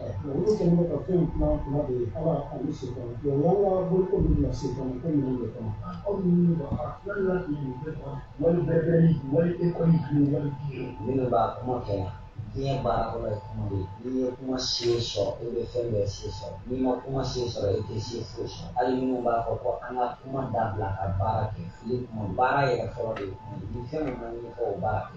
Olu kɛlen bɛ ka ko in kuma kuma de ye ala ani se kɔnɔ yan ka bolo ko min na se kɔnɔ ko minnu de kɔnɔ aw minnu bɛ ka wali bɛɛ wali bɛɛ bɛ wali e kɔni bi wali bi minnu b'a kuma kɛ yan diɲɛ baara kɔrɔ ye kuma de ye n'i ye kuma se sɔrɔ e bɛ fɛn bɛɛ se sɔrɔ n'i ma kuma se sɔrɔ e tɛ se foyi sɔrɔ hali minnu b'a fɔ ko an ka kuma dabila ka baara kɛ fili kuma baara yɛrɛ fɔlɔ de ye kuma ye ni fɛn min ma ɲɛfɔ o baara kɛ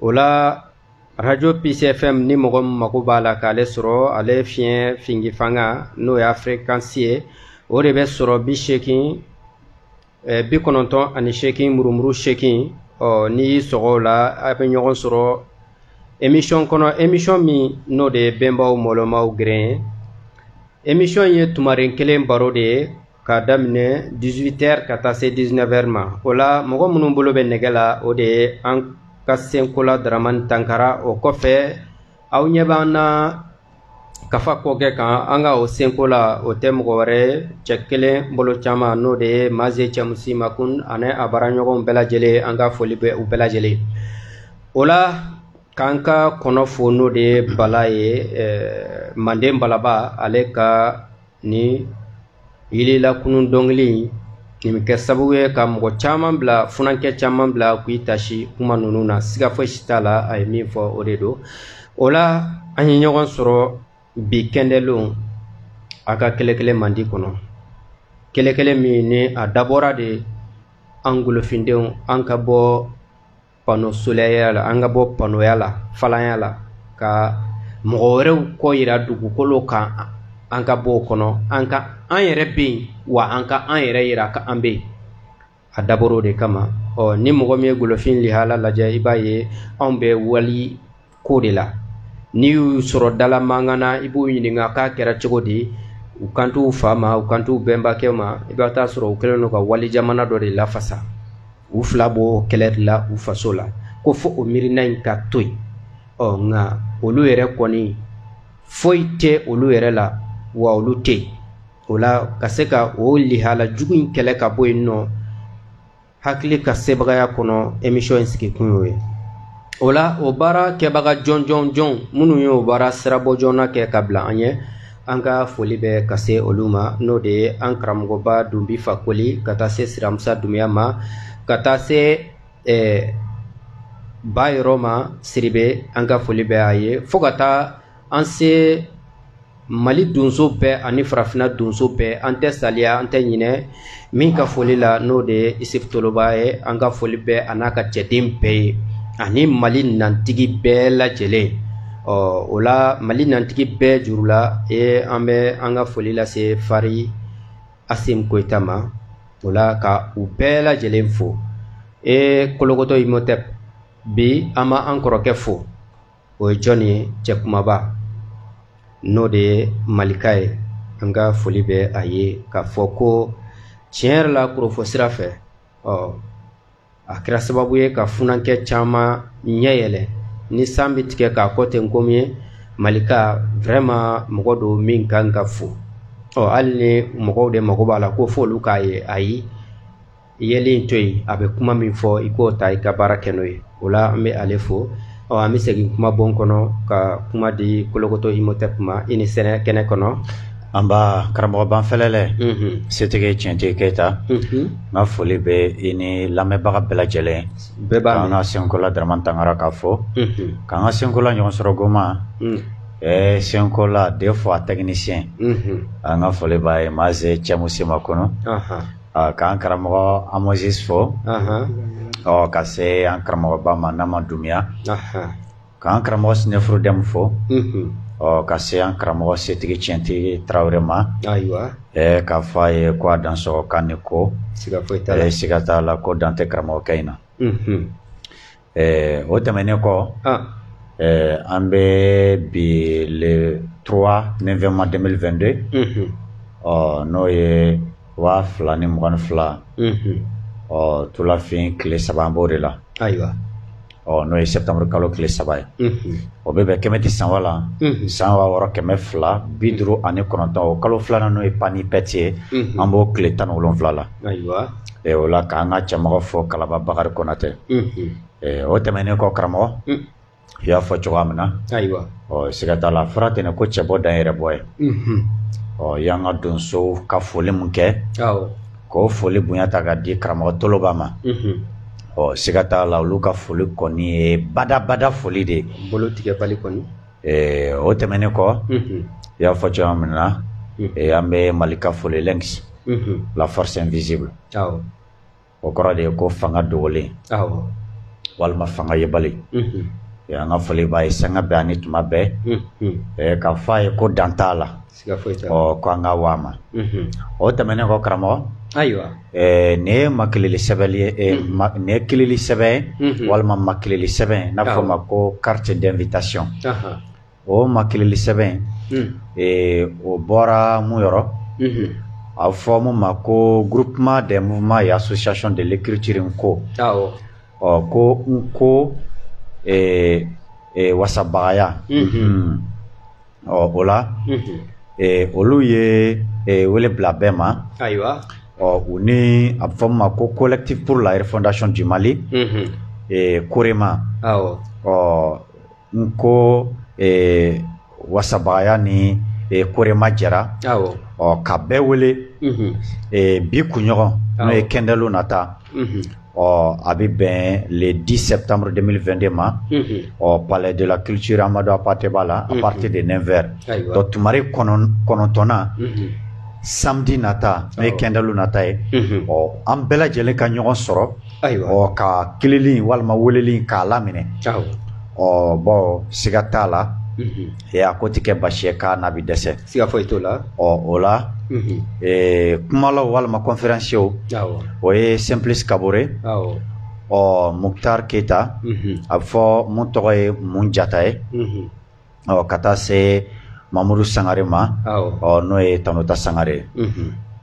o la arajo pcfm ni mɔgɔ min mago b'a la k'ale sɔrɔ ale fiɲɛ fingi fanga n'o y'a frekansi ye o de bɛ sɔrɔ bi seegin eh, bi kɔnɔntɔn ani seegin murumuru seegin ɔ n'i y'i sɔgɔ o la an bɛ ɲɔgɔn sɔrɔ emisiyɔn kɔnɔ emisiyɔn min n'o de ye bɛnbaw mɔlɔmaw geren ye emisiyɔn ye tumaren kelen baro de ye k'a daminɛ 18 ɛri ka taa se 19 ɛri ma o la mɔgɔ minnu bolo bɛ nɛgɛ la o de ye an ka senkola daramani tankara o kɔfɛ aw ɲɛ b'an na kafa kɔkɛ kan an ka o senko la o tɛ mɔgɔ wɛrɛ cɛ kelen bolo caman n'o de ye maze cɛmusi makun ani a baaraɲɔgɔnw bɛɛ lajɛlen an ka foli bɛ u bɛɛ lajɛlen o la k'an ka kɔnɔ fo n'o de ye bala ye manden balaba ale ka ni yili lakunun dɔnkili in nin bɛ kɛ sababu ye ka mɔgɔ caman bila funankɛ caman bila k'i taasi kuma ninnu na siga fosi t'a la a ye min fɔ o de don o la an ye ɲɔgɔn sɔrɔ bi kɛndɛlenw a ka kɛlɛkɛlɛ mandi kɔnɔ kɛlɛkɛlɛ min ni a dabɔra de an golofindenw an ka bɔ pano solɛya la an ka bɔ panoya la falanya la ka mɔgɔ wɛrɛw ko yira dugukolo kan an ka bɔ o kɔnɔ an ka an yɛrɛ bɛ yen wa an ka an yɛrɛ yira ko an bɛ yen a dabɔra o de kama ɔ ni mɔgɔ min ye golofin lihala lajɛ i b'a ye anw bɛ wali ko de la n'i y'u sɔrɔ dala mankan na i b'u ɲininka k'a kɛra cogo di u kan t'u fa ma u kan t'u bɛnbakɛ ma i bɛ t'a sɔrɔ u kɛlen don ka wali jamana dɔ de lafasa u fila b'o kɛlɛ de la u faso la ko fo o miirina in ka to yen ɔ nka olu yɛrɛ kɔni foyi tɛ olu yɛrɛ la wa olu tɛ yen o la ka se ka o lihala jugu in kɛlɛ ka bɔ yen nɔ hakili ka sebagaya kɔnɔ emisiyɔn in sigi kun y'o ye o la o baara kɛbaga jɔn jɔn jɔn minnu ye o baara sirabɔ joona kɛ ka bila an ɲɛ an ka foli bɛ ka se olu ma n'o de ye an karamɔgɔba dunbi fakoli ka taa se siramusa dumuya ma ka taa se eh, ba yɔrɔ ma siribe an ka foli bɛ a ye fo ka taa an se mali donso bɛɛ ani farafina donso bɛɛ an tɛ saliya an tɛ ɲinɛ min ka foli la n'o de ye isif toloba ye an ka foli bɛ a n'a ka cɛden bɛɛ ye ani mali nantigi bɛɛ lajɛlen ɔ o la mali nantigi bɛɛ juru la e an bɛ an ka foli lase fari asimi goyita ma o la ka u bɛɛ lajɛlen fo e kolokotɔ imotep bi an ma an kɔrɔkɛ fo o ye jɔn ye cɛ kumaba n'o de ye malika ye an ka foli bɛ a ye k'a fɔ ko tiɲɛ yɛrɛ la kurofɔ sira fɛ ɔ a kɛra sababu ye ka funankɛ caman ɲɛ yɛlɛ ni san bɛ tigɛ k'a kɔ ten komi ye malika vraiment mɔgɔ don min kan ka fo ɔ hali ni mɔgɔw de mago b'a la ko fo olu k'a ye ayi yeli in to yen a bɛ kuma min fɔ i k'o ta i ka baara kɛ n'o ye o la an bɛ ale fo ɔ an bɛ segin kuma bon kɔnɔ ka kuma di kolokoto imotɛp ma i ni sɛnɛ kɛnɛ kɔnɔ nba karamɔgɔ banfɛlɛlɛ mhm. setigi tiɲɛtigi keyita mhm. n ka foli bɛ i ni lamɛnbaga bɛɛ lajɛlen k'an ka senkola darama tangara k'a fo mhm. k'an ka senkola ɲɔgɔn sɔrɔ goma Eh, senkola de fɔ an tɛkinisiyɛn an ka foli b'a ye maa se cɛmu sema kɔnɔ k'an karamɔgɔ amosis fo ka se an karamɔgɔba ma nama dumuya k'an karamɔgɔ snefru dɛmɛ fo ka se an karamɔgɔ setigi tiɲɛtigi tarawele ma k'a fɔ a ye ko a dansɔgɔ ani ko siga t'a la ko dan tɛ karamɔgɔkɛ in na Ɛɛ o tɛmɛnen kɔ an bɛ bi le trois neuvième mois deux mille vingt-deux ɔ n'o ye waa fila ni mugan ni fila ɔ tulafin tile saba an b'o de la ayiwa ɔ n'o ye sɛtanburu kalo tile saba ye o bɛ bɛn kɛmɛti sanfa la san waa wɔɔrɔ kɛmɛ fila bi duuru ani kɔnɔntɔn o kalo filanan n'o ye pan ipɛti ye an b'o tile tan ni wolonwula la ɛ o la k'an ka cɛmɔgɔ fo kalaba bakari konatɛ ɛ o tɛmɛnen kɔ karamɔgɔ i y'a fɔ cogoya min na ayiwa ɔ siga t'a la fɔra ten ko cɛbɔ dan yɛrɛ bɔ ye ɔ y'an ka donsow ka foli min kɛ k'o foli bonya ta ka di karamɔgɔ toloba ma ɔ siga t'a la olu ka foli kɔni ye badabada foli de ye bolo tigɛbali kɔni o tɛmɛnen kɔ i y'a fɔ cogoya min na an bɛ malika fo le lynx la force invisible o kɔrɔ de ye ko fanga dogolen walima fanga yebali an ka foli b'a ye sanga bɛɛ ani tuma bɛɛ k'a fɔ a ye ko dan t'a la ɔ ko an ka wa ma o tɛmɛnen kɔ karamɔgɔ ayiwa nin ye makilili sɛbɛn nin ye kilili sɛbɛn walima makilili sɛbɛn n'a fɔ ma ko carte d'invitation o makilili sɛbɛn o bɔra mun yɔrɔ a fɔ min ma ko groupement des mouvements et associations de l'écriture n'ko ɔ ko n'ko wasabagaya ɔ o la ee, olu ye ee, wele bila bɛɛ ma ayiwa ɔ u ni a bɛ fɔ min ma ko collectif pour la refondation du mali Mhm. ee, COREMA awɔ ɔ n'ko ee, wasabagaya ni ee, COREMA jɛra awɔ ɔ ka bɛɛ wele Mhm. ee, bi kunɲɔgɔn n'o ye Awɔ. kɛndɛlon nata Mhm. ɔ a bɛ bɛn le 10 septembre 2022 ma ɔ palais de la culture Amadou Hampâté Ba la à partir de 9 heures donc tumaren kɔnɔntɔn na samedi nata n'o ye kɛndɛlon nata ye ɔ an bɛɛ lajɛlen ka ɲɔgɔn sɔrɔ ɔ ka kilili walima weleli k'a laminɛ ɔ bon siga t'a la ee a ko tɛ kɛ baasi ye k'a na bɛ dɛsɛ siga foyi t'o la ɔ o la ee kumalaw walima conférenciersw o ye Simplice Kaboré ɔ Mouktar Keïta a bɛ fɔ mun tɔgɔ ye mun jata ye ɔ ka taa se Mamoudou Sangaré ma ɔ n'o ye tanta Sangaré ye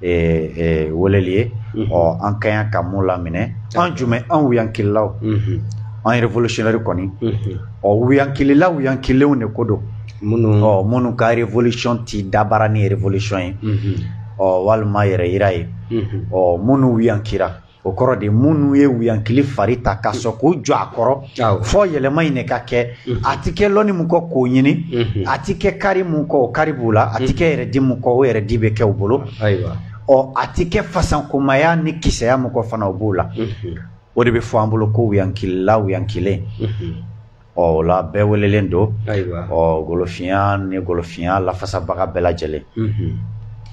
weleli ye ɔ an ka kan ka mun laminɛ an jumɛn an wuyankililaw an révolutionnaires kɔni ɔ wuyankilila wuyankilenw de ko don minnu minnu ka révolution tɛ dabaara ni révolution ye ɔ walima yɛrɛ yira ye ɔ minnu wuyankira o kɔrɔ de minnu ye wuyankili fari ta ka sɔn k'u jɔ a kɔrɔ fɔ yɛlɛma in de ka kɛ mhm. a tɛ kɛ lɔnni min kɔ k'o ɲini mhm. a tɛ kɛ kaari min kɔ o kaari b'u la a tɛ mhm. kɛ yɛrɛdi min kɔ o yɛrɛdi bɛ kɛ u bolo ɔ a tɛ kɛ fasankomaya ni kisɛya min kɔ fana o b'u la o de bɛ fɔ an bolo ko wuyankilila wuyankilen ɔ o la bɛɛ welelen don ɔ golofinya ni golofinya lafasabaga bɛɛ lajɛlen mhm.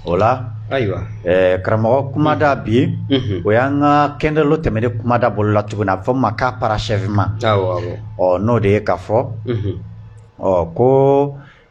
o la ayiwa eh, karamɔgɔ kumada mhm. bi mhm. o y'an ka kɛndɛlon tɛmɛnen kumada bololatuguni a bɛ fɔ ma k'a parachèvement ɔ n'o de ye k'a fɔ ɔ ko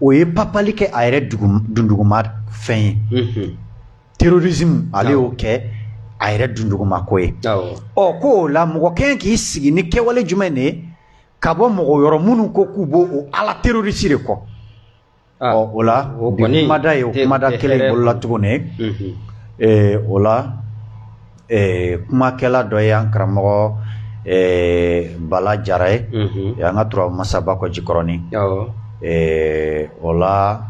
o ye papali kɛ a yɛrɛ dunduguma fɛn ye mhm. terrorisme ale y'o kɛ a yɛrɛ dunduguma ko ye ɔ ko o la mɔgɔ kɛɲɛ k'i sigi ni kɛwale jumɛn de ye ka bɔ mɔgɔ yɔrɔ minnu ko k'u b'o o ala terroriste de kɔ ah. ɔ o la bi kumada ye o kumada kelen bololatuguni mhm. eh, o la eh, kumakɛla dɔ ye an karamɔgɔ eh, bala jara ye mhm. eh, an ka turabu masa bakɔjikɔrɔni eh, o la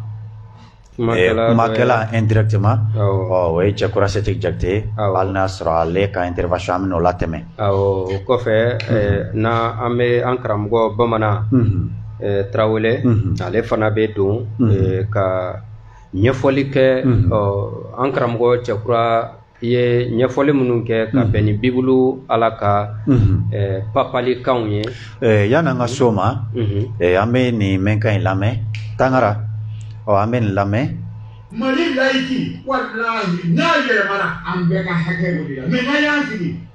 eh, kumakɛla indirectement ɔ o ye cɛkura setigi jakite ye hali n'a sɔrɔ ale ka intervention an bɛna o latɛmɛ awɔ o kɔfɛ eh, mhm. na an bɛ an karamɔgɔ bamanan mhm. eh, tarawele ale fana bɛ don ka ɲɛfɔli kɛ an karamɔgɔ cɛkura i ye ɲɛfɔli minnu kɛ ka mhm. bɛn ni bibulu ala ka mhm. eh, papalikanw ye eh, yani an ka s'o ma mhm. eh, an bɛ nin mɛnkan in lamɛn tangara ɔ an bɛ nin lamɛn mali layiki walahi n'a yɛlɛmana an bɛɛ ka hakɛ o de la mɛ n'a y'an sigi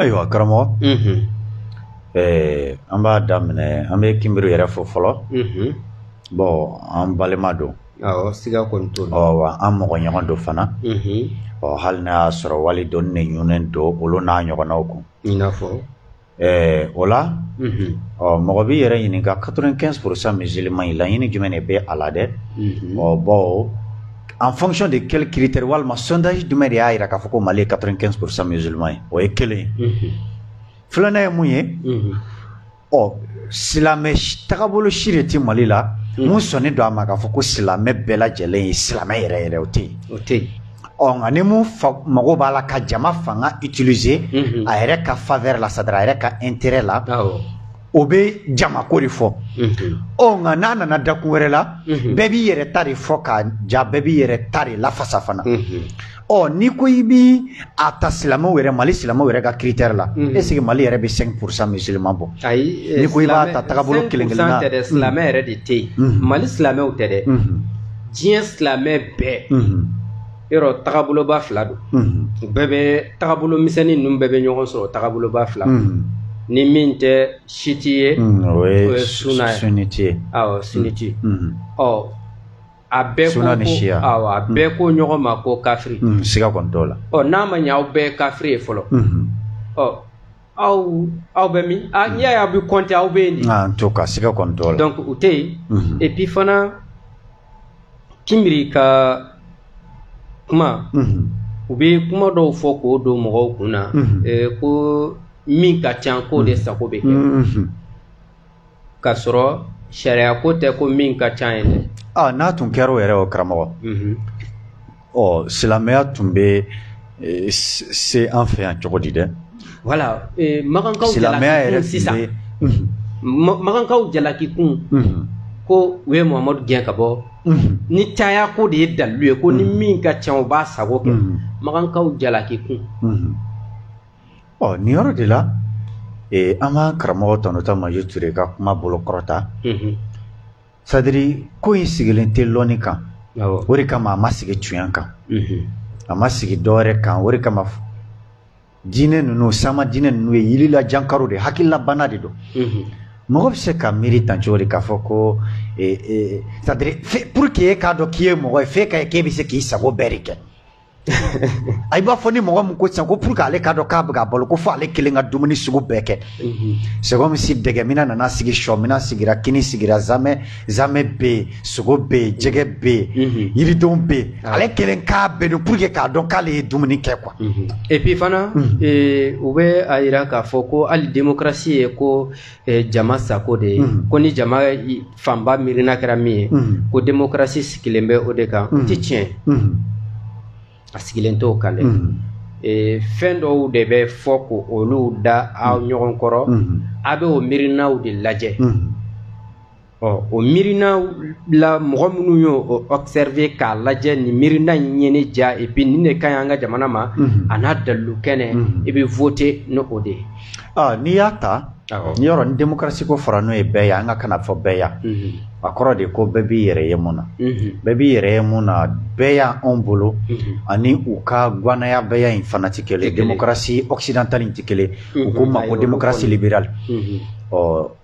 ayiwa karamɔgɔ ɛɛ an b'a daminɛ an bɛ kinbiri yɛrɛ fo fɔlɔ bɔn an balima don awɔ siga kɔni t'o la wa an mɔgɔ ɲɔgɔn don fana ɔ hali n'a y'a sɔrɔ wali dɔɔni ne ɲunnen don olu n'a ɲɔgɔnnaw kun i n'a fɔ Ɛɛ o la ɔ mɔgɔ b'i yɛrɛ ɲininka 95 pour cent musulman in laɲini jumɛn de bɛ a la dɛ ɔ bɔn en fonction de quel critère walima sondage jumɛn de y'a jira k'a fɔ ko mali ye 95 pour cent musulman ye o ye kelen filanan ye mun ye ɔ silamɛ tagabolo si de tɛ mali la min sɔnnen don a ma k'a fɔ ko silamɛ bɛɛ lajɛlen ye silamɛ yɛrɛ yɛrɛ o tɛ yen o tɛ yen ɔ nka ni min mago b'a la ka jama fanga utiliser a yɛrɛ ka faveur la c'est-à-dire a yɛrɛ ka intérêt la o bɛ jamako de fɔ ɔ nka n'a nana dakun wɛrɛ la bɛɛ b'i yɛrɛ ta de fɔ k'a ja bɛɛ b'i yɛrɛ ta de lafasa fana ɔ n'i ko i bɛ a ta silamɛw yɛrɛ mali silamɛw yɛrɛ ka critère la est ce que mali yɛrɛ bɛ 5 pour cent musulman bɔ ayi n'i ko i b'a ta tagabolo kelen kelen na silamɛ yɛrɛ de tɛ yen mali silamɛw tɛ dɛ diɲɛ silamɛ bɛɛ yɔrɔ tagaboloba fila don u bɛɛ bɛ tagabolo misɛnnin ninnu bɛɛ bɛ ɲɔgɔn sɔrɔ tagaboloba fila ni min tɛ chiite ye o ye suna ye sunnite ye awɔ sunnite ɔ a bɛɛ ko ko awɔ a bɛɛ ko ɲɔgɔn ma ko kafiri siga kɔni t'o la ɔ n'a ma ɲɛ aw bɛɛ ye kafiri ye fɔlɔ ɔ aw aw bɛ min a n'i y'a ye aw bɛ kɔnte aw bɛ yen de. en tout cas siga kɔni t'o la. donc o tɛ yen. et puis fana kinbiri ka kuma. u bɛ kuma dɔw fɔ k'o don mɔgɔw kun na. ko min ka ca k'o de sago bɛ kɛ. ka sɔrɔ sariya ko tɛ ko min ka ca ye dɛ ah n'a tun kɛra o yɛrɛ o karamɔgɔ mhm. ɔ silamɛya tun bɛ e, se an fɛ yan cogo di dɛ wala e, makankaw silamɛya yɛrɛ sisan mhm. makankaw jalaki kun mhm. ko u ye muhamadu gɛn ka bɔ ni caya ko de ye dalilu ye ko ni min ka ca o b'a sago kɛ makankaw jalaki kun Ɔ nin yɔrɔ de la an ka karamɔgɔ tonton maju ture ka kuma bolo kɔrɔta c'est-à-dire ko in sigilen tɛ lɔni kan o de kama a ma sigi tiɲɛ kan a ma sigi droit kan o de kama diinɛ ninnu sanma diinɛ ninnu ye yilila jankaro de hakililabana de don mɔgɔ bɛ se ka miiri tan cogo de k'a fɔ ko c'est-à-dire pour que k'a dɔn k'i ye mɔgɔ ye fo k'a ye k'e bɛ se k'i sago bɛɛ de kɛ a i b'a fɔ ni mɔgɔ min ko sisan ko pour que ale k'a dɔn k'a bɛ ka balo ko fo ale kelen ka dumuni sugu bɛɛ kɛ c'est comme si dɛgɛ minan nana sigi sɔ minan sigira kini sigira zamɛ zamɛ bɛ yen sogo bɛ yen jɛgɛ bɛ yen yiridenw bɛ yen ale kelen k'a bɛɛ dun pour que k'a dɔn k'ale ye dumuni kɛ quoi et puis fana u bɛ a jira k'a fɔ ko hali démocratie ye ko jama sago de ye mhm. ko ni jama fanba miirina kɛra min ye mhm. ko demokarasi sigilen bɛ o de kan o mhm. tɛ tiɲɛ a sigilen t'o kan dɛ fɛn dɔw de bɛ fɔ ko olu da a ɲɔgɔn kɔrɔ a bɛ o miirinaw de lajɛ ɔ o miirina la mɔgɔ minnu y'o observer k'a lajɛ nin miirina in ye ne diya et puis nin de ka ɲi an ka jamana ma mhm. a n'a dalilu kɛnɛ mhm. i bɛ vote ni o de ye ah, n'i y'a ta nin yɔrɔ ni démocratie ko fɔra n'o ye bɛɛya an ka kan na fɔ bɛɛya mhm. a kɔrɔ de ko bɛɛ b'i yɛrɛ ye min na bɛɛ b'i yɛrɛ ye min na bɛɛya anw bolo ani u ka gwanaya bɛɛya in fana tɛ kelen démocratie occidentale in tɛ kelen u ko o ma ko démocratie libérale ɔ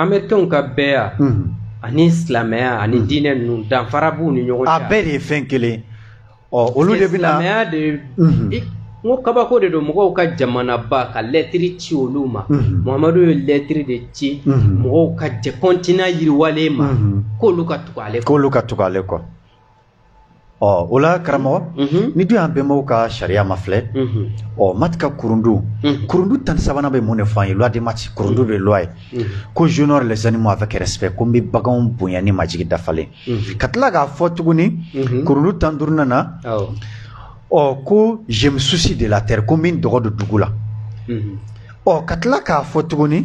amɛrikɛnw ka bɛɛya ani silamɛya ani diinɛ ninnu danfara b'u ni ɲɔgɔn cɛ a bɛɛ de ye fɛn kelen ɔ olu de bɛ na silamɛya de n ko kabako de don mɔgɔw ka jamanaba ka lɛtiri ci olu ma muhamadu ye lɛtiri de ci mɔgɔw ka jɛ continent yiriwalen ma k'olu ka tugu ale kɔ k'olu ka tugu ale kɔ ɔ o la karamɔgɔ n'i dun y'an bɛnbaw ka sariya mafilɛ ɔ maât ka kurundu kurundu tan ni sabanan bɛ mun de fɔ an ye loi de maât kurundu de loi ye ko j'honore les animaux avec respect ko n bɛ baganw bonya ni majigi dafalen ka tila k'a fɔ tuguni kurundu tan duurunan na ɔ ko je me soucie de la terre ko n bɛ n dɔgɔ don dugu la ɔ ka tila k'a fɔ tuguni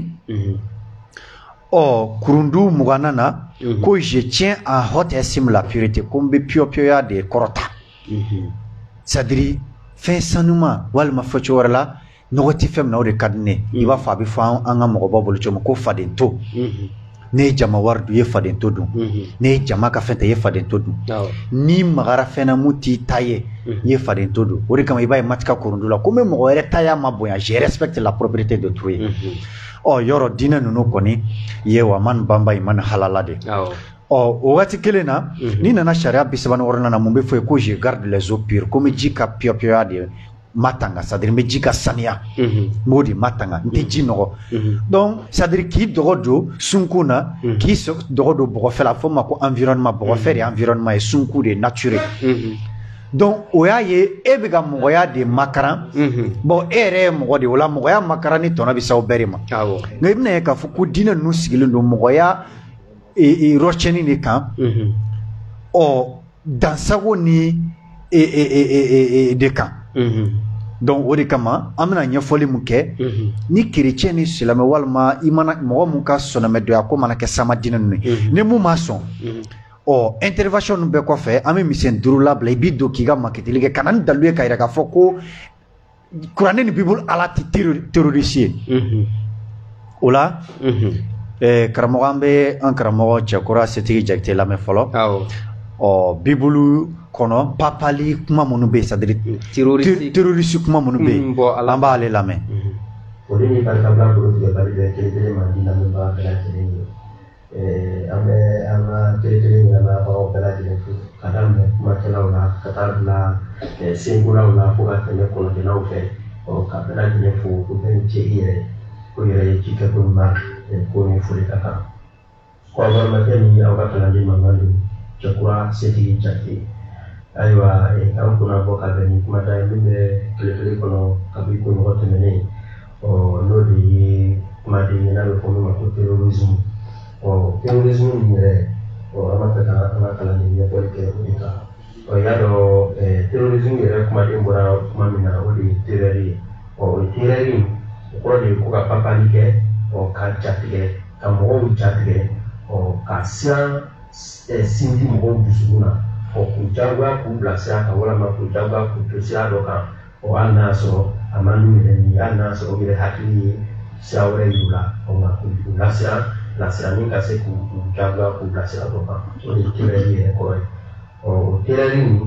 ɔ kurundu mugannan na mhm. ko je tiens en haute estime la pureté ko n bɛ piyɔpiyɔya de kɔrɔta mhm. c'est-à-dire fɛn sanuman walima fɔcogo wɛrɛ la nɔgɔ tɛ fɛn min na o de ka di n ye mhm. i b'a fɔ a bɛ fɔ an ka mɔgɔbaw bolo cogo min ko fadento ne ye jama wari dun i ye fadento dun ne ye jama ka fɛn ta i ye fadento dun n'i magara fɛn na mun t'i ta ye i ye fadento dun o de kama i b'a ye maati ka kurundu la ko n bɛ mɔgɔ wɛrɛ taya mabonya je respecte la propriété d'autrui o yɔrɔ diinɛ ninnu kɔni ye wa man banba i man halala de ɔ o waati kelen na mhm. n'i nana sariya bi saba ni wɔɔrɔnan na mun bɛ fɔ yen ko je garde les eaux pures ko n bɛ ji ka piyɔpiyɔya de matanga c'est-à-dire n bɛ ji ka saniya mhm. n b'o de matanga n tɛ ji mhm. nɔgɔ donc c'est-à-dire k'i dɔgɔ don sunkun na k'i dɔgɔ don bɔgɔfɛ la a fɔ ma ko environnement bɔgɔfɛ de environnement ye sunkun de nature donc o y'a ye e bɛ ka mɔgɔya de makaran bon e yɛrɛ ye mɔgɔ de o la mɔgɔya makaranni tɔnɔ bɛ s'aw bɛɛ de ma nka i bɛna ye k'a fɔ ko diinɛ ninnu sigilen don mɔgɔya rɔcɛnni de kan ɔ dansagonni de kan donc o de kama an bɛna ɲɛfɔli min kɛ ni kerecɛn ni silamɛ walima i mana mɔgɔ min ka sɔnɔmɛdɔyako mana kɛ sama diinɛ ninnu ye ni mun ma sɔn ɔ intervention ninnu bɛɛ kɔfɛ an bɛ misɛn duuru labila i b'i don k'i ka makitili kɛ ka na ni dalilu ye ka yira k'a fɔ ko kuranɛ ni bibulu ala tɛ terroriste ye mhm. o la mhm. eh, karamɔgɔ an bɛ an karamɔgɔ cɛkura setigi jakite lamɛn fɔlɔ ɔ bibulu kɔnɔ papali kuma minnu bɛ yen c'est-à-dire mm, terroriste kuma minnu bɛ yen mm, an b'ale lamɛn. Mhm. o de ni barikabila bolo tigɛ bali bɛ kelen kelen mandi lamɛnbaga bɛɛ lajɛlen ye. an bɛ an ka kɛlɛkɛlɛ ɲɛnaanabagaw bɛɛ lajɛlen fo ka daminɛ kumakɛlaw la ka taa bila senkolaw la fo ka tɛmɛ kɔnɔkɛlaw fɛ ka bɛɛ lajɛlen fo ko bɛɛ ni ce i yɛrɛ ko yɛrɛ ye cikɛ ko ɲuman ko ni foli ka kan kɔrɔmakɛ ni aw ka kalanden mankan don cɛkura setigi jakite ayiwa an kunna bɔ ka bɛn ni kumada ye min bɛ kɛlɛkɛlɛ kɔnɔ kabi kunɲɔgɔn tɛmɛnen ɔ n'o de ye kumaden ye n'a bɛ fɔ min ma ko terrorisme ɔ terrorisme nin yɛrɛ ɔ an b'a fɛ ka an ka kalanden ɲɛfɔli kɛ o de kan ɔ y'a dɔn ɛɛ eh, terrorisme yɛrɛ kumaden bɔra kuma min na o de ye terreur ye ɔ o terreur in o kɔrɔ de ye ko ka papali kɛ ɔ ka jatigɛ ka mɔgɔw jatigɛ ɔ ka siran ɛɛ eh, sindi mɔgɔw dusukun na ɔ k'u jagoya k'u bila sira kan walama k'u jagoya k'u to sira dɔ kan. o hali n'a sɔrɔ a man d'u ye ni hali n'a sɔrɔ u yɛrɛ hakili ye sira wɛrɛ yir'u la o nka k'u lasiran bilasirani ka se k'u jagoya k'u bila sira dɔ kan o de ye terreur yɛrɛ kɔrɔ ye ɔ o terreur ninnu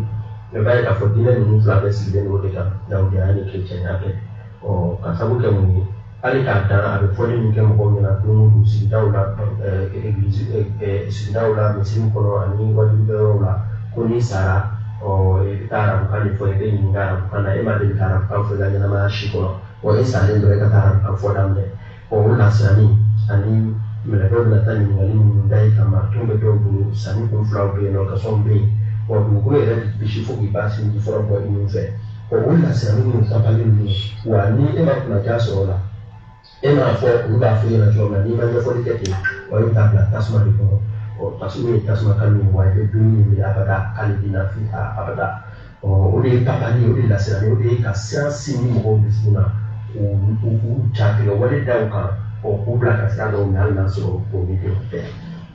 bɛɛ b'a ye k'a fɔ diinɛ ninnu fila bɛɛ sigilen don o de kan dawudenya ni kerecɛnya tɛ ɔ ka sabu kɛ mun ye hali k'a dan a bɛ fɔli min kɛ mɔgɔw ɲɛna don o don sigidaw la egilizi sigidaw la misiriw kɔnɔ ani wajuli yɔrɔw la ko n'i sara ɔ i bɛ taa arabukan de fɔ i bɛ ɲininka arabukan na e ma deli ka arabukan fɔ i ka ɲɛnamaya si kɔnɔ wa e salen dɔrɔn e ka taa arabukan fɔ daminɛ ɔ o lasiranni ani mɛlɛkɛw bɛna taa ɲininkali minnu da i kan marito bɛ dɔw bolo sa ni kun filaw bɛ yen nkɔsɔn bɛ yen wa dugukolo yɛrɛ b'i bisi fo k'i ba sinji fɔlɔ bɔ i nun fɛ o o lasiran minnu dafalen ninnu wa ni e ma kunnandiya sɔrɔ o la e m'a fɔ olu b'a fɔ i ɲɛna cogo min na n'i ma ɲɛfɔli kɛ ten wa e bɛ taa bila tasuma de kɔnɔ ɔ tasuma ye tasuma kalo ye wa i bɛ dumuni min minɛ abada k'ale b'i na fi ka abada ɔ o de ye tabali o de ye lasiranni o de ye ka siran sinmi mɔgɔw dusukun na k'u k'u k'u jatigɛ wale da u kan ɔ k'u bila ka sira dɔw minɛ hali n'a sɔrɔ o ni tɛ o tɛ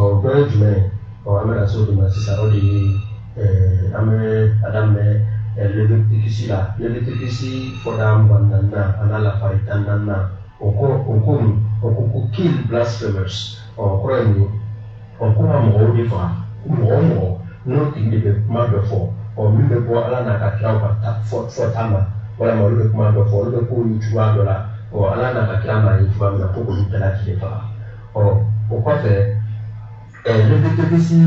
ɔ dɔ ye jumɛn ye ɔ an bɛna se o de ma sisan o de ye ɛɛ an bɛ a daminɛ ɛɛ levitikisi la levitikisi fɔda mugan ni naaninan a n'a lafari tan ni naaninan o ko o ko mun o ko ko kill blasphemers ɔ o kɔrɔ ye mun ye ɔ ko ka mɔgɔw de faga mɔgɔ o mɔgɔ n'o tigi de bɛ kuma dɔ fɔ ɔ min bɛ bɔ ala n'a ka kiraw ka ta fɔ fɔta ma walima olu bɛ kuma dɔ fɔ olu bɛ k'olu cogoya dɔ la ɔ ala n'a ka kira ma ye cogoya min na ko k'olu bɛɛ lajɛlen faga. ɔ o kɔfɛ ɛ levitikisi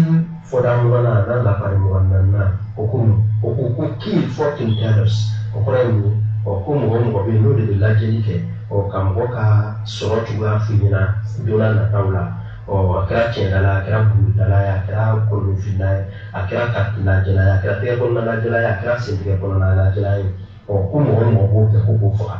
fɔda mugannan n'a lafari mugan naaninan o ko mun o ko ko kill fortune tellers o kɔrɔ ye mun ɔ ko mɔgɔ o mɔgɔ bɛ yen n'o de bɛ lajɛli kɛ ɔ ka mɔgɔ ka sɔrɔ cogoya f'i ɲɛna don nataw la ɔ a kɛra tiɲɛdala a kɛra buguridala ye a kɛra kolonfilila ye a kɛra karitilajɛla ye a kɛra tɛgɛ kɔnɔna lajɛla ye a kɛra sentɛgɛ kɔnɔna lajɛla ye ɔ ko mɔgɔ o mɔgɔ b'o kɛ ko k'o faga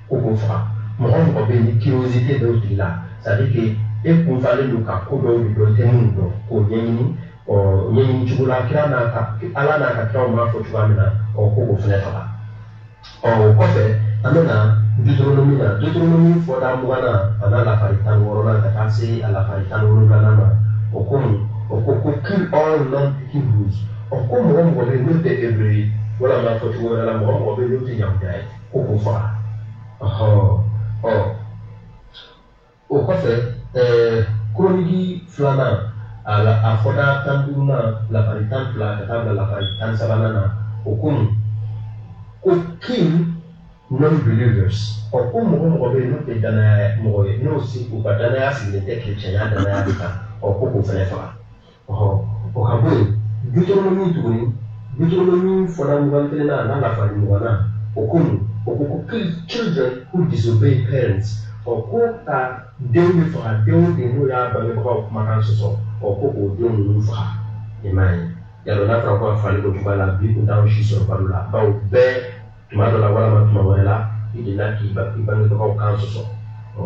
ko k'o faga mɔgɔ o mɔgɔ bɛ yen ni curiosité bɛ o tigi la c'est à dire que e kunfalen don ka ko dɔw de dɔn i tɛ minnu dɔn k'o ɲɛɲini ɔ ɲɛɲini cogo la kira n'a ka ala n'a ka kiraw b'a fɔ cogoya min na ɔ ko k'o fana faga ɔ o kɔfɛ an bɛ na deuteronomi na deuteronomi fɔda mugannan a n'a lafari tan ni wɔɔrɔnan ka taa se a lafari tan ni wolonwulanan ma o ko mun o ko ko kill all non hebrews ɔ ko mɔgɔ o mɔgɔ bɛ yen n'o tɛ hebreu ye walama fɔ cogo wɛrɛ la mɔgɔ o mɔgɔ bɛ yen n'o tɛ yahudu ye ko k'o faga o kɔfɛ ɛɛ kroniki filanan a la a fɔda tan duurunan lafari tan fila ka taa bila lafari tan sabanan na o ko mun ko kill non believers ɔ ko mɔgɔ o mɔgɔ bɛ yen n'o tɛ danaya mɔgɔ ye n'o si u ka danaya sigilen tɛ kerecɛnya danaya de kan ɔ ko k'o fɛnɛ faga ɔhɔ o ka bɔ yen deuteronomi tuguni deuteronomi fɔda mugan kelen na n'a lafari mugan na o ko mun o ko ko children who disobey parents ɔ ko ka denw bɛɛ faga den o den n'o y'a bangebagaw kumakan sɔsɔ ɔ ko k'o denw ninnu faga i m'a ye yàrá n'a fɔra ko a fali k'o cogoya la bi kun t'anw si sɔrɔ balo la bawo bɛɛ tuma dɔ la walama tuma wɛrɛ la i delila k'i ba i bangebagaw kan sɔsɔ ɔ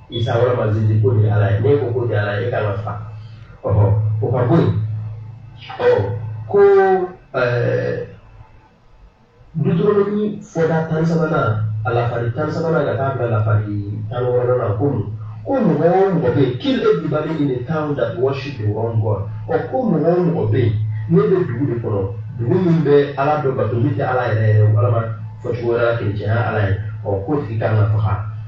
Isa wɛrɛ ma zizi ko de ala ye ne ko ko de ala ye e ka ka fa ɔhɔ o ka bɔ yen ɔ ko ɛɛ dutoronomi fɔda tan sabanan a lafari tan sabanan ka taa bila lafari tan wɔɔrɔnan na ko mun ko mɔgɔ o mɔgɔ bɛ yen kill everybody in the town that worship the wrong god ɔ ko mɔgɔ o mɔgɔ bɛ yen n'i bɛ dugu dɔ kɔnɔ dugu min bɛ ala dɔ bato min tɛ ala yɛrɛ yɛrɛ walama fɔcogo wɛrɛ la kerecɛnya ala ye ɔ k'o tigi kan ka faga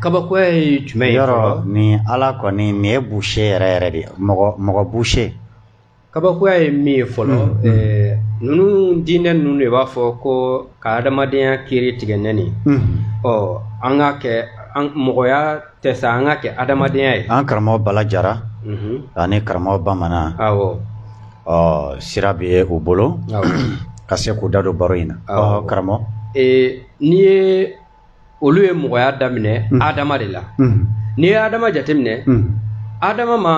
kabakoya ye jumɛn ye yɔrɔ nin ala kɔni nin ye bushe yɛrɛ yɛrɛ de mɔgɔ mɔgɔ bushe kabakoya ye min ye fɔlɔ mm-hmm. eh, ninnu diinɛ ninnu de b'a fɔ ko ka adamadenya kiri tigɛ ni nin mm-hmm. ɔ an ka kɛ mɔgɔya tɛ sa an ka kɛ adamadenya ye an karamɔgɔ bala jara mm-hmm. ani karamɔgɔ bamanan awɔ ɔ sira bɛ u bolo ka se k'u da don baro in na karamɔgɔ eh, n'i ye olu ye mɔgɔya daminɛ mm. adama de la mm. n'i ye adama jateminɛ mm. adama ma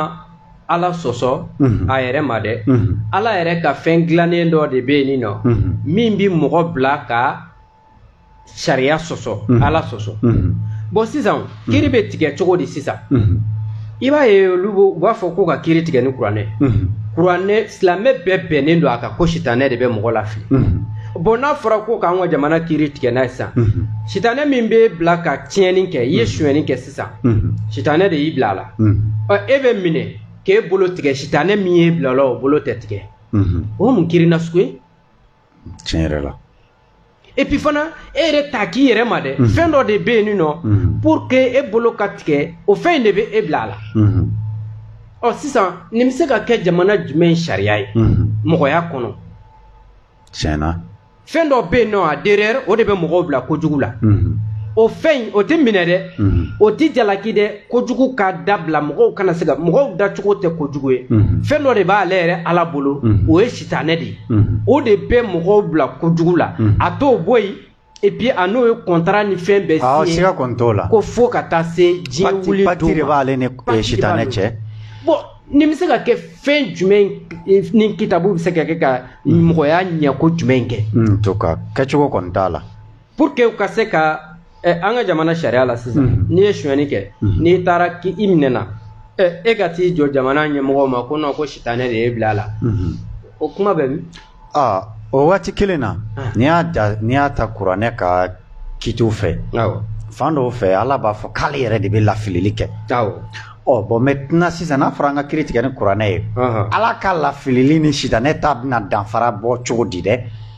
ala sɔsɔ mm-hmm. a yɛrɛ ma dɛ mm-hmm. ala yɛrɛ ka fɛn dilannen dɔ de bɛ yen nɔ mm-hmm. min bɛ mɔgɔ bila ka sariya sɔsɔ ala sɔsɔ bɔn sisan kiri bɛ tigɛ cogo di sisan i b'a ye olu u b'a fɔ ko ka kiri tigɛ ni kuranɛ kuranɛ silamɛ bɛɛ bɛnnen don a kan ko sitanɛ de bɛ mɔgɔ lafili bɔn n'a fɔra ko k'an ka jamana kiri tigɛ n'a ye sisan sitanɛ min b'i bila ka tiɲɛni kɛ i ye sonyɛni kɛ sisan sitanɛ de y'i bila a la e bɛ minɛ k'e bolo tigɛ sitanɛ min y'i bila a la o bolo tɛ tigɛ o mun kiri na sugu ye tiɲɛ yɛrɛ la et puis fana e yɛrɛ t'a k'i yɛrɛ ma dɛ mhm. fɛn dɔ de bɛ yen nin nɔ mhm. pour que e bolo ka tigɛ o fɛn in de bɛ e bila a la mhm. ɔ sisan nin bɛ se ka kɛ jamana jumɛn sariya ye mɔgɔya kɔnɔ tiɲɛ na fɛn dɔ bɛ yen nɔ a derrière o de bɛ mɔgɔw bila kojugu la o fɛn in o tɛ minɛ dɛ o tɛ jalaki dɛ kojugu ka dabila mɔgɔw kana se ka mɔgɔw dacogo tɛ kojugu ye mhm. fɛn dɔ de b'ale yɛrɛ ala bolo mhm. o ye sitanɛ de ye mhm. o de bɛ mɔgɔw bila kojugu la a t'o bɔ yen epi a n'o ye kɔntara ni fɛn bɛɛ ah, siɲe siga kɔni t'o la ko fo ka taa se diɲɛ wuli don ma pati de b'ale ni eh, sitanɛ cɛ bɔn nin bɛ se ka kɛ fɛn jumɛn eh, ni kitabu bɛ se ka kɛ ka mɔgɔya ɲɛko jumɛn kɛ to ka kɛcogo kɔni t'a la pour que u ka se ka ɛ eh, an ka jamana sariya la sisan mhm. n'i ye sonyɛni kɛ mhm. n'i taara k'i i minɛna ɛ eh, e ka t'i jɔ jamana ɲɛmɔgɔw ma ko nɔ ko sitanɛ de y'i bila a la mhm. o kuma bɛ min aa o waati kelen na ah. n'i y'a da n'i y'a ta kuranɛ ka kitiw fɛ fan dɔw fɛ ala b'a fɔ k'ale yɛrɛ de bɛ lafilili kɛ ɔ bon maintenant sisan n'a fɔra an ka kiri tigɛ ni kuranɛ ye ala ka lafilili ni sitanɛ ta bɛna danfara bɔ cogo di dɛ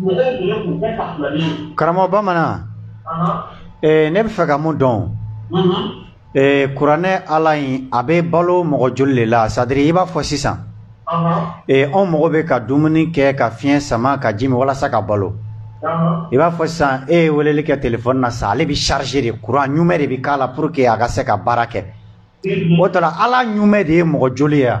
mɔgɔ tun ye kun bɛɛ ka filani ye karamɔgɔ bamanan Ahan. eh, ne bɛ fɛ ka mun dɔn Mhm. eh, kuranɛ ala in a bɛ balo mɔgɔ joli de la c'est-à-dire i b'a fɔ sisan Ahan. eh, anw mago bɛ ka dumuni kɛ ka fiɲɛ sama ka ji min walasa ka balo Ahan. i b'a fɔ sisan e ye weleli kɛ telefɔni na sisan ale bɛ chargé de kuran ɲuman de bɛ k'a la pour que a ka se ka baara kɛ Mhm. o tɔ la ala ɲuman de ye mɔgɔ joli ye wa?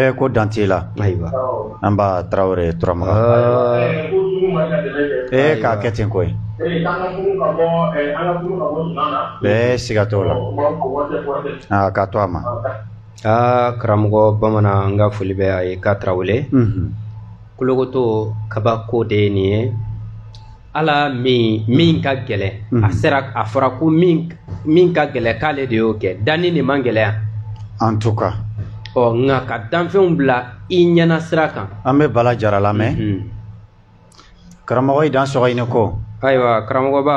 ee ko dan t'i la ayiwa nba tarawele turamagan k'a kɛ ten koyi ee siga t'o la aa k'a to a ma aa karamɔgɔ bamanan n ka foli bɛ a ye k'a tarawele kolokoto kabako de ye nin ye ala min min ka gɛlɛn mm. a sera a fɔra ko min min ka gɛlɛn k'ale de y'o kɛ danni de man gɛlɛya en tout cas ɔ nka ka danfɛnw bila i ɲɛna sira kan an bɛ bala jara lamɛn mm -hmm. karamɔgɔ i dansɔgɔ i ni ko ayiwa karamɔgɔba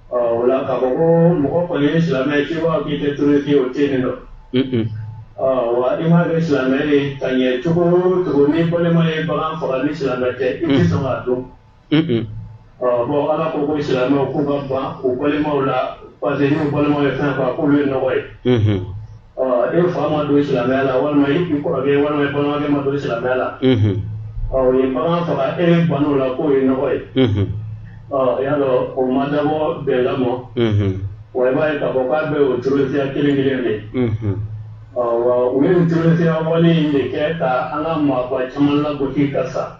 Ɔ o la k'a fɔ ko mɔgɔ kɔni ye silamɛ ye k'i b'a fɔ k'i tɛ terroriste ye o tɛ yen nɔ. Ɔ wa i m'a kɛ silamɛ ye ka ɲɛ cogo o cogo n'i balima ye bagan faga ni silamɛ tɛ i tɛ sɔn k'a dun. Ɔ bon Ala ko ko silamɛw k'u ka ban u balimaw la parce que n'u balimaw ye fɛn faga k'olu ye nɔgɔ ye. ɔ e fa ma don silamɛya la walima e kɔrɔkɛ walima e balimakɛ ma don silamɛya la ɔ o ye bagan faga e ban'o la k'o ye nɔgɔ ye ɔ y'a dɔn o ma dabɔ bɛn lamɔ wa i b'a ye k'a fɔ k'a bɛ o terorisiya kelen kelen de ɔ wa u ye nin terorisiya wale in de kɛ ka an ka maaba caman lagosi ka sa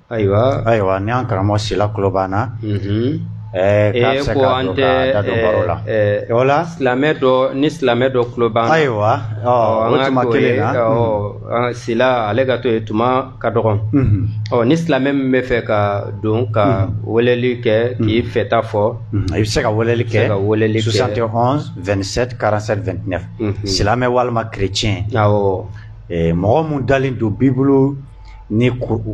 Ayiwa ayiwa ni y'an karamɔgɔ sila tuloba na ko an tɛ la silamɛ dɔ ni silamɛ dɔ tuloba ayiwa kelen sila ale ka to yen tuma ka dɔgɔn ɔ ni silamɛ min bɛ fɛ ka don ka weleli kɛ k'i fɛta fɔ i bɛ se ka weleli kɛ ka weleli kɛ karatafɛn silamɛ walima kerecɛn mɔgɔ min dalen don b'i bolo ni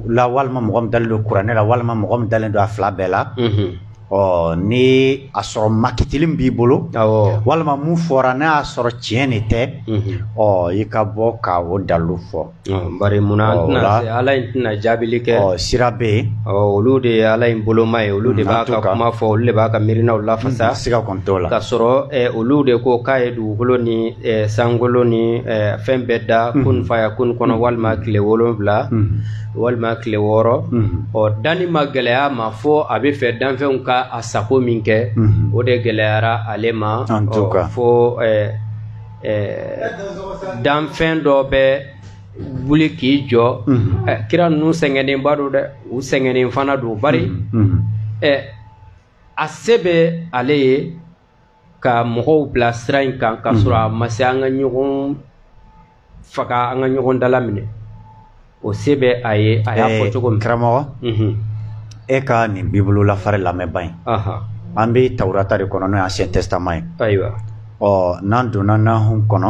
la walima mɔgɔ min dalen don kuranɛ la walima mɔgɔ min dalen don a fila bɛɛ la ɔ ni a sɔrɔ makitili b'i bolo walima min fɔra n'i y'a sɔrɔ tiɲɛ de tɛ ɔ i ka bɔ ka o dalu fɔ bari munna ala in tɛna jaabili kɛ ɔ sira bɛ yen olu de ye ala in boloma ye olu de b'a ka kuma fɔ olu de b'a ka miirinaw lafasa siga kɔni t'o la ka sɔrɔ olu de ko k'a ye dugukolo ni eh, sankolo ni eh, fɛn bɛɛ da mm-hmm. kun fayakun kɔnɔ mm-hmm. walima tile wolonwula mm-hmm. walima tile wɔɔrɔ o danni ma gɛlɛya ma fo a b'a fɛ danfɛnw ka a sago min kɛ o de gɛlɛyara ale ma fo eh, danfɛn dɔ bɛ wuli k'i jɔ kira ninnu sɛgɛnnenba don dɛ u sɛgɛnnen fana don bari a se bɛ ale ye ka mɔgɔw bila sira in kan ka sɔrɔ a ma se an ka ɲɔgɔn faga an ka ɲɔgɔn dalaminɛ o se bɛ a ye a y'a fɔ cogo min karamɔgɔ e ka nin bibulu lafari lamɛnba in an bɛ tawurata de kɔnɔ n'o ye ancien testament ye ayiwa ɔ n'an donna nahum kɔnɔ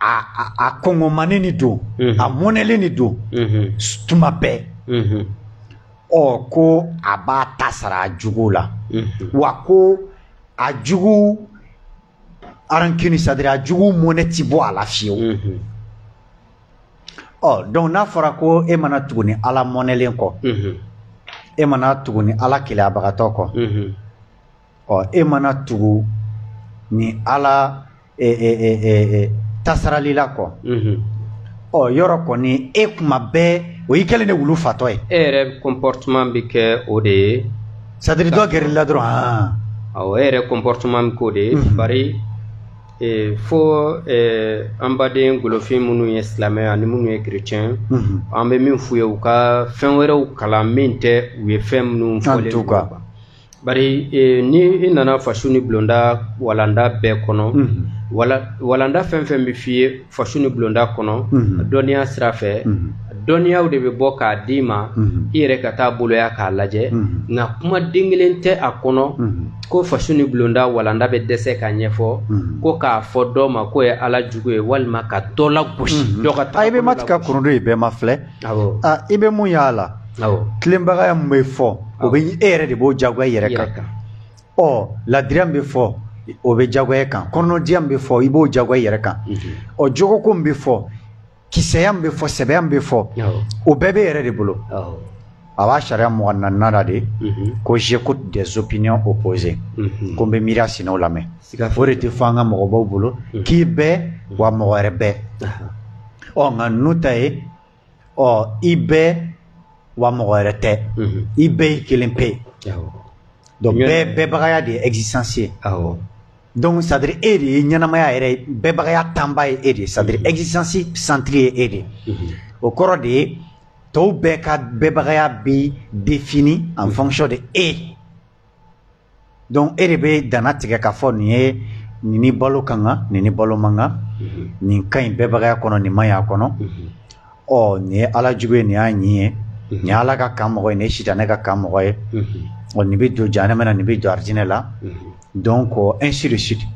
a a a kɔngɔmanen de don a mɔnɛlen de don tuma bɛɛ ɔ ko a b'a ta sara a jugu la wa ko a jugu a rancune c'est-à-dire a jugu mɔnɛ ti bɔ a la fiyewu ɔ donc n'a fɔra ko e mana tugu nin ala mɔnɛlen kɔ e mana tugu nin ala keleyabagatɔ kɔ ɔ e mana tugu nin ala e, e, e, e, e, tasaralila kɔ Mhm. ɔ yɔrɔ kɔni e kuma bɛɛ o y'i kɛlen de wulu fatɔ ye e yɛrɛ comportement bɛ kɛ o de ye c'est-à-dire dɔ gɛrɛla dɔrɔn han awɔ e yɛrɛ comportement bɛ k'o de ye Mhm. bari eh, fo eh, an baden golofin minnu ye silamɛ ani minnu ye chrétien Mhm. an bɛ min f'u ye u ka fɛn wɛrɛw kalan min tɛ u ye fɛn minnu fɔ en tout cas. ninnu kan. bari e, ni i nana fasu ni bulonda walanda bɛɛ kɔnɔ mm -hmm. wala, walanda fɛn fɛn bɛ f'i ye fasu ni bulonda kɔnɔ mm -hmm. dɔnniya sira fɛ mm -hmm. dɔnniyaw de bɛ bɔ k'a d'i ma mm -hmm. i yɛrɛ ka taa boloya k'a lajɛ mm -hmm. nka kumaden kelen tɛ a kɔnɔ mm -hmm. ko fasu ni bulonda walanda bɛ dɛsɛ ka ɲɛfɔ mm -hmm. ko k'a fɔ dɔ ma k'o ye ala jugu ye walima ka dɔ lagosi mm -hmm. dɔ ka taa a i bɛ matigɛ korodo ye bɛɛ ma filɛ i bɛ mun y'a la tilenbagaya min bɛ fɔ o bɛ e yɛrɛ de b'o jagoya i yɛrɛ kan ɔ ladiriya min bɛ fɔ o bɛ jagoya kan kɔnɔdiya min bɛ fɔ i b'o jagoya i yɛrɛ kan ɔ jogoko min bɛ fɔ kisɛya min bɛ fɔ sɛbɛya min bɛ fɔ o bɛɛ b'i yɛrɛ de bolo a b'a sariya mugan ni naaninan la de ko j'écoute des opinions opposées ko n bɛ miiriya sinaw lamɛn o de tɛ fɔ an ka mɔgɔbaw bolo k'i bɛ wa mɔgɔ wɛrɛ bɛ ɔ nka n'u ta ye ɔ i bɛ wa mɔgɔ wɛrɛ tɛ i bɛɛ y'i kelen pe ye donc bɛ bɛbagaya de ye existence ye donc c'est à dire e de ye ɲɛnamaya yɛrɛ ye bɛbagaya tanba ye e de ye c'est à dire existence centre ye e de ye o kɔrɔ de ye tɔw bɛɛ ka bɛbagaya bɛ défini en fonction de e donc e de bɛ danna tigɛ k'a fɔ nin ye nin ni balo ka kan nin ni balo man kan mhm. nin ka ɲi bɛbagaya kɔnɔ nin man ɲi a kɔnɔ mhm. ɔ nin ye ala jugu ye nin y'a ɲin ye mhm. nin ye ala ka kan mɔgɔ ye nin ye sitanɛ ka kan mɔgɔ ye ɔ nin bɛ don jahanama na nin bɛ don arijinɛ la donc ainsi de suite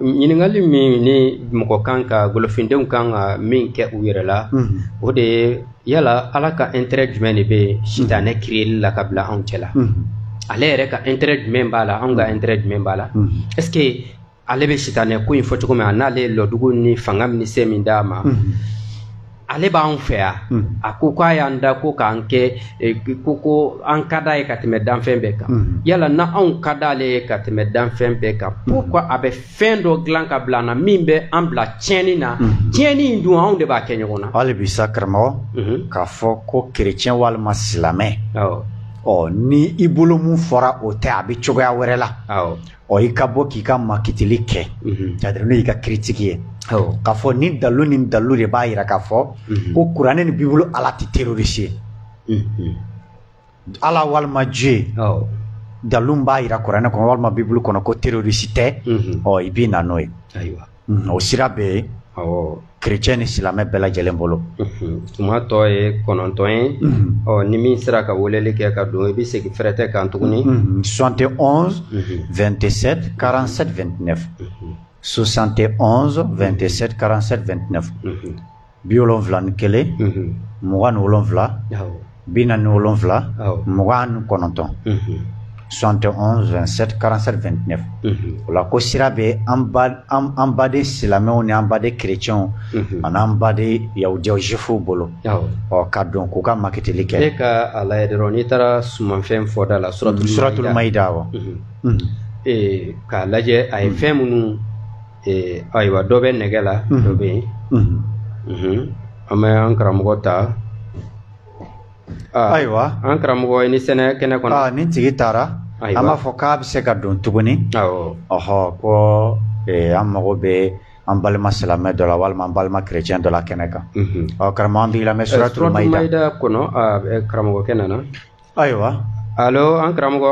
ɲininkali min ni mɔgɔ kan ka golofindenw kan ka min kɛ u yɛrɛ la mhm. o de ye yala ala ka intérêt jumɛn de bɛ sitanɛ mhm. kiriyeli la k'a bila anw cɛ la mhm. ale yɛrɛ ka intérêt jumɛn b'a la anw ka intérêt jumɛn b'a la est ce que ale bɛ sitanɛ ko in fɔ cogo min an'ale ye lɔdugu ni fanga ni se min d'a ma ale b'an fɛ yan hmm. a ko ko a y'an da ko k'an kɛ eh, ko ko an ka d'a ye ka tɛmɛ danfɛn bɛɛ kan hmm. yala ni anw ka d'ale ye ka tɛmɛ danfɛn bɛɛ kan hmm. pourquoi a bɛ fɛn dɔ dilan k'a bila an na min bɛ an bila tiɲɛni na tiɲɛni in dun anw de b'a kɛ ɲɔgɔn na hali bi sa karamɔgɔ k'a fɔ ko kerecɛn walima silamɛ ɔ ni i bolo min fɔra o tɛ a bɛ cogoya wɛrɛ la ɔ i ka bɔ k'i ka makitili kɛ c'est à dire n'o y'i ka critique ye k'a fɔ ni dalu ni dalu de b'a yira k'a fɔ ko kuranɛ ni bibulu ala tɛ terorisi ye ala walima ju ye dalu b'a yira kuranɛ kɔnɔ walima bibulu kɔnɔ ko terorisi tɛ ɔ i bɛ na n'o ye o sira bɛ yen kec ni silamɛmɛ bɛɛ lajɛlen bolo tuma tɔ ye kɔnɔntɔn ye ɔ ni min sera ka weleli kɛ ka don i bɛ segin fɛrɛɛrɛ tɛ kan tuguni sɔn tɛ fɛn tɛ se karan2tinɛ sosante2 tɛ se karan2tinɛ bi wolonwula ni kelen mugan ni wolonwula bi naani ni wolonwula mugan ni kɔnɔntɔn 71 27 47 29 o la ko sira bɛ an baden silamɛw ni an baden kerecɛnw ani an baden yahudiyaw juwifuw bolo ɔ ka don k'u ka makitili kɛ ne ka a lajɛ dɔrɔn n'i taara sumanfɛn fɔda la suratul maida wa k'a lajɛ a ye fɛn minnu ee ayiwa dɔ bɛ nɛgɛ la dɔ bɛ yen an bɛ an karamɔgɔ ta ayiwa an karamɔgɔ i ni sɛnɛ kɛnɛ kɔnɔ nin tigi taara an b'a fɔ k'a bɛ se ka don tuguni ɔhɔ ko an mago bɛ an balima silamɛ dɔ la walima an balima kerecɛn dɔ la kɛnɛ kan ɔ karamɔgɔ an b'i lamɛn suratul maida kɔnɔ karamɔgɔkɛ nana ayiwa alo an karamɔgɔ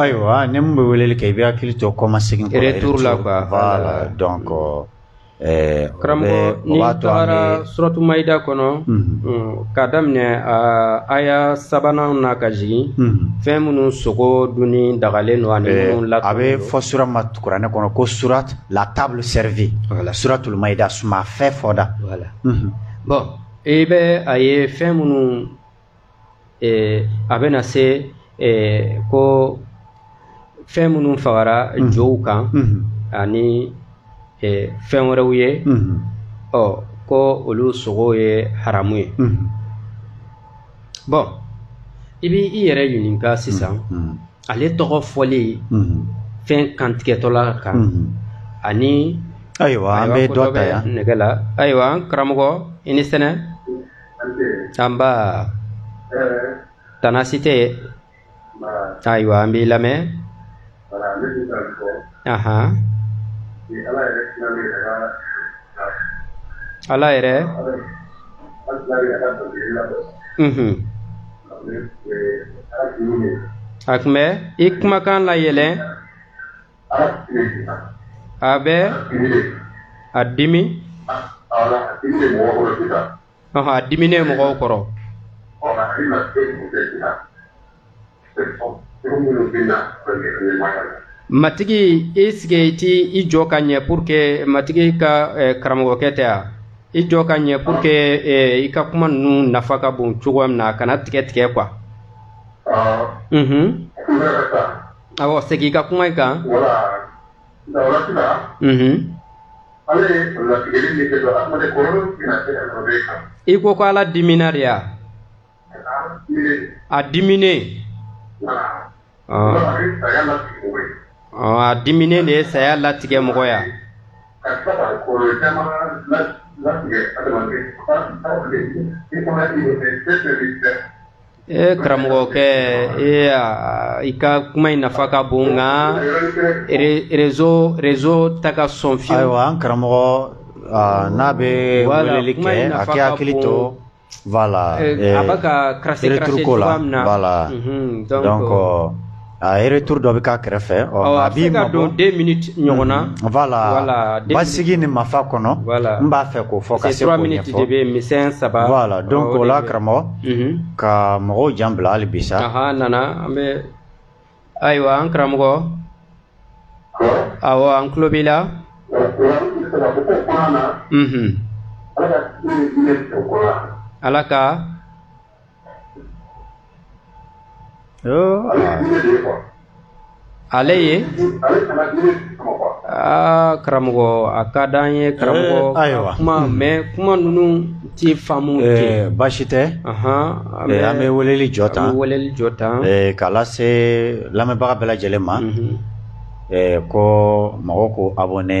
ayiwa ni min bɛ weleli kɛ i b'i hakili to kɔma segin kɔrɔ retour la quoi voilà donc ɛɛ karamɔgɔ n'i tagara suratu mayida kɔnɔ ka daminɛ aya sabanan na ka jigin fɛn minnu sogo dunni dagalen don ani minnu la a bɛ fɔ sura ma kuranɛ kɔnɔ ko surat la table servie suratul mayida suman fɛn fɔ da bon i bɛ a ye fɛn minnu a bɛna se ko fɛn minnu fagara mhm. jow kan mhm. ani fɛn wɛrɛw ye mhm. ɔ ko olu sogo ye haramu ye bon i bɛ i yɛrɛ ɲininka sisan ala tɔgɔ fɔli fɛn kantigɛtɔla kan ani ayiwa an bɛ dɔ ta yan nɛgɛ la ayiwa karamɔgɔ i ni sɛnɛ nba tana si tɛ ayiwa an b'i lamɛn ahan ala yɛrɛ a tun bɛ i kumakan layɛlɛ a bɛ a dimi ɔhɔ a diminen mɔgɔw kɔrɔ matigi i sigi i t'i jɔ ka ɲɛ pour que matigi ka eh, karamɔgɔkɛ tɛ a i jɔ ka ɲɛ pour que eh, i ka kuma ninnu nafa ka bon cogoya min na a kana tigɛ tigɛ quoi. Mhm. Awɔ segin i ka kuma in kan. Wala Ala ye latigɛli min kɛ adamaden kɔrɔlen tɛna se ka nɔrɔ e kan. I ko ko Ala dimina de wa? A diminen. A diminen de ye saya latigɛ mɔgɔ ya. e karamɔgɔkɛ e i ka kuma in nafa ka bon nka réseau réseau tɛ ka sɔn fiyewu ayiwa an karamɔgɔ n'a bɛ weleli kɛ a k'a hakili to voilà a bɛ ka karase karase cogoya min na voilà donc A retour dɔ bɛ k'a kɛrɛfɛ ɔ a b'i mabɔ, a bɛ se ka don 2 minutes ɲɔgɔn na, unhun, voilà, voilà basigi ni mafa kɔnɔ, voilà, n b'a fɛ k'o fɔ ka se k'o ɲɛfɔ, 3 minutes de bɛ yen misɛn 3, voilà donc o la karamɔgɔ, unhun, ka mɔgɔw jan bila hali bi sa, anhan a nana an bɛ, ayiwa an karamɔgɔ, awɔ an tulo b'i la, unhun, Ala ka, Ala ka ale ye aa karamɔgɔ a ka di an ye karamɔgɔ eh, ayiwa kuma hmm. mɛ kuma ninnu ti faamu eh, kɛ baasi tɛ eh, an bɛ weleli jɔ tan an bɛ weleli jɔ tan k'a lase lamɛnbaga bɛɛ lajɛlen ma mhm. ko mɔgɔw k'u abonné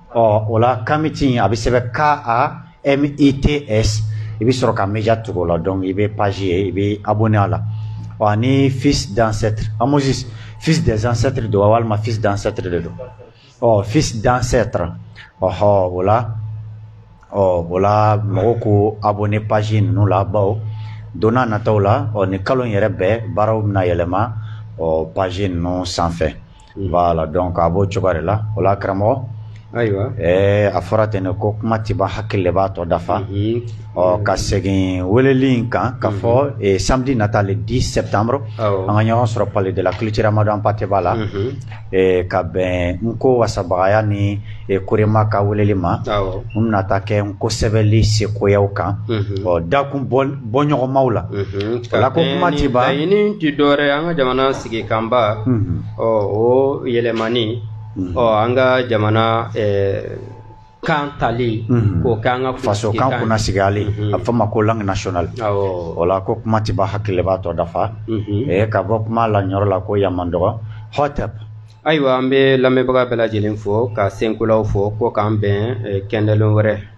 ɔ o la kamiti a bɛ sɛbɛn k a m i t s i bɛ sɔrɔ ka média tugu o la donc i bɛ page ye i bɛ abonné a la ɔ ani fils d'ancêtre amosis fils des ancêtres don wa walima fils d'ancêtre de don ɔ fils d'ancêtre ɔhɔ o la ɔ o la mɔgɔw k'u abonné page ninnu la bawo don n'a nataw la ɔ nin kalo in yɛrɛ bɛɛ baaraw bɛna yɛlɛma ɔ page ninnu sanfɛ. Voilà donc a b'o cogo de la o la karamɔgɔ ayiwa ɛɛ a fɔra ten ne ko kuma tɛ ban hakili de b'a tɔ dafa ɔ ka segin weleli in kan k'a fɔ samedi nata le 10 septembre an ka ɲɔgɔn sɔrɔ Palais de la Culture Amadou Hampaté Ba la ka bɛn nko wasabagaya ni korema ka weleli ma min bɛna taa kɛ nko sɛbɛli sekoyaw kan ɔ dakun bɔɲɔgɔnmaw la o la ko kuma ti ban laɲini tɛ dɔwɛrɛ an ka jamana sigi kanba ɔ o yɛlɛmani ɔ an ka jamana kan tali mhm. k'o k'an ka faso kan kunna sigiyali mhm. a f'a ma ko langue nationale o la ko kuma tɛ ban hakili de b'a tɔ dafa mhm. ka bɔ kuma la ɲɔrɔ la ko yamandɔgɔ hɔtɛp ayiwa an bɛ lamɛnbaga bɛɛ lajɛlen fo ka senkolaw fo ko k'an bɛn eh, kɛndɛlon wɛrɛ ah.